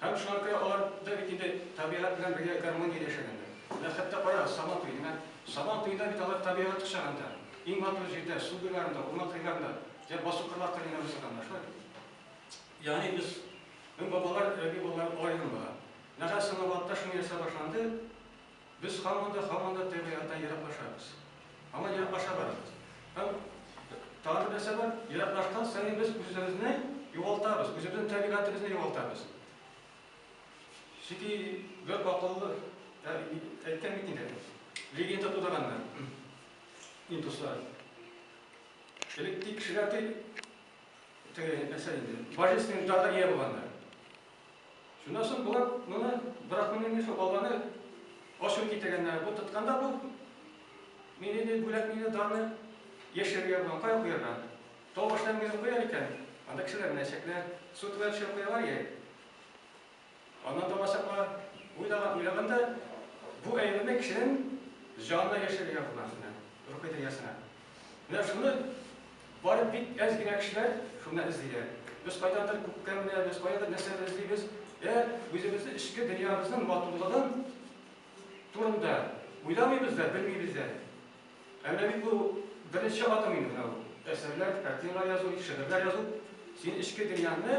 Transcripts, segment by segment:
Һәм шуңа күрә алар да бит инде табигать белән бергә гармониядә яшәгәннәр. Менә хәтта карагыз, Сабан туе, менә Сабан туенда бит алар табигать кочагында, иң матур җирдә, су буйларында, урман кырларында, йә басу кырлар кырыенда уздырганнар, шулай бит? Ягъни без, мең бабалар, Рәби бабалар алар юлын бара. Менә хәзер Салаватта шуны ясау башланды. Без һаман да, һаман да теге яктан ераклашабыз. Һаман ераклаша барабыз. Һәм тагын бер нәрсә бар, ераклашкан саен без үзебезне югалтабыз, үзебезнең табигатебезне югалтабыз. Чөнки бер акыллы әйткән бит инде, легенда тудырганнар индуслар. Элек тик кешеләр тик теге нәрсә инде, божественный дарга ия булганнар. Шуннан соң болар моны брахманның нефе баланы ачу китергәннәр. Бу тотканда бу мине ди бүләк мине дарны яшерергә булган кая куярга? Тау башына генә куяр икән, анда кешеләр менә чәкләр, су түбән төшереп куялар яй. Аннан да басаклар уйлаган уйлаганда бу әйберне кешенең җанына яшерергә булган шунда, рухи дөньясына. Менә шуны барып бик әз генә кешеләр шуннан эзлиләр. Без кайдандыр күктән беләбез, каядыр нәрсәдер эзлибез. Ә үзебезнең эчке дөньябызның матурлыгын турында уйламыйбыз да, белмибез дә. Ә менә бит бу беренче адым инде менә бу. Әсәрләр, картиналар язу, шигырьләр язу, син эчке дөньяңны,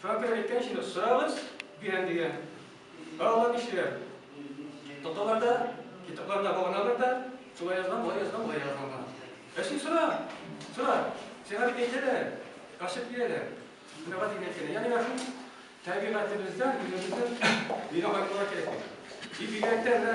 Фәнкәр әйткәнчә дә, сорагыз, бирәм дигән. Ә алар нишлиләр? Тоталар да, китапларына багыналар да, шулай язган, болай язган, болай язган гына. Ә син сора, сора. Сиңа бит әйтәләр, ачып бирәләр. Мөрәгать итеп әйткәндә, ягъни менә шул табигатебездән үзебезнең бирә алырга кирәк. И бигрәк тә менә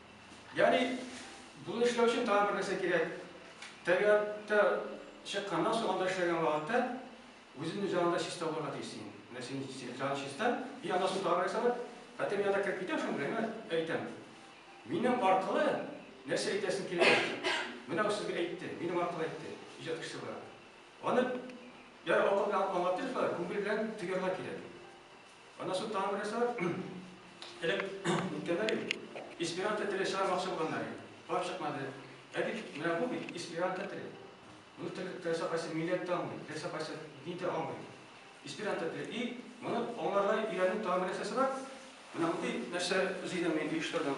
Ягъни, буны эшләү өчен тагын бер нәрсә кирәк. Табигатьтә чыкканнан соң, анда эшләгән вакытта үзен үзе анда чиста булырга тиеш син. Менә син җан чиста, и аннан соң тагын нәрсә бар? Хәтер янына кереп китәм шуны гына әйтәм. Минем аркылы нәрсә әйтәсең килә? Менә ул сезгә әйтте, минем аркылы әйтте. Иҗат кешесе була. Аны яра акыл белән аңлатып, күңел белән тоярга кирәк. Анасы тагын бер нәрсә бар. Элек үткәннәр бит, эсперанто теле чыгармакчы булганнар иде. Барып чыкмады. Ә бит менә бу бит эсперанто теле. Моны теләсә кайсы милләт тә аңлый, теләсә кайсы дин дә аңлый. Эсперанто теле. И моны аңларга өйрәнүнең тагын бер нәрсәсе бар. Менә мондый нәрсә эзли идем мин, оештырдым.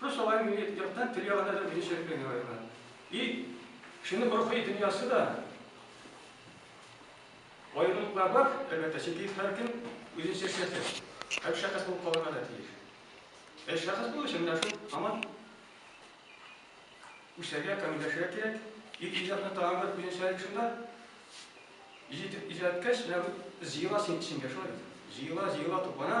Плюс алар имеют яктан тел ягына да үзенчәлек белән ярайлар. И кешенең рухи дөньясы да аерымлыклар бар, әлбәттә, чөнки һәркем үзенчә шәхес. Һәм шәхес булып калырга да тиеш. Ә шәхес булу өчен менә шул һаман үсәргә, камилләшергә кирәк. И иҗатны тагын бер үзенчәлек шунда. Иҗат иҗаткәч, менә зыела син эчеңгә, шулай бит. Зыела, зыела туплана,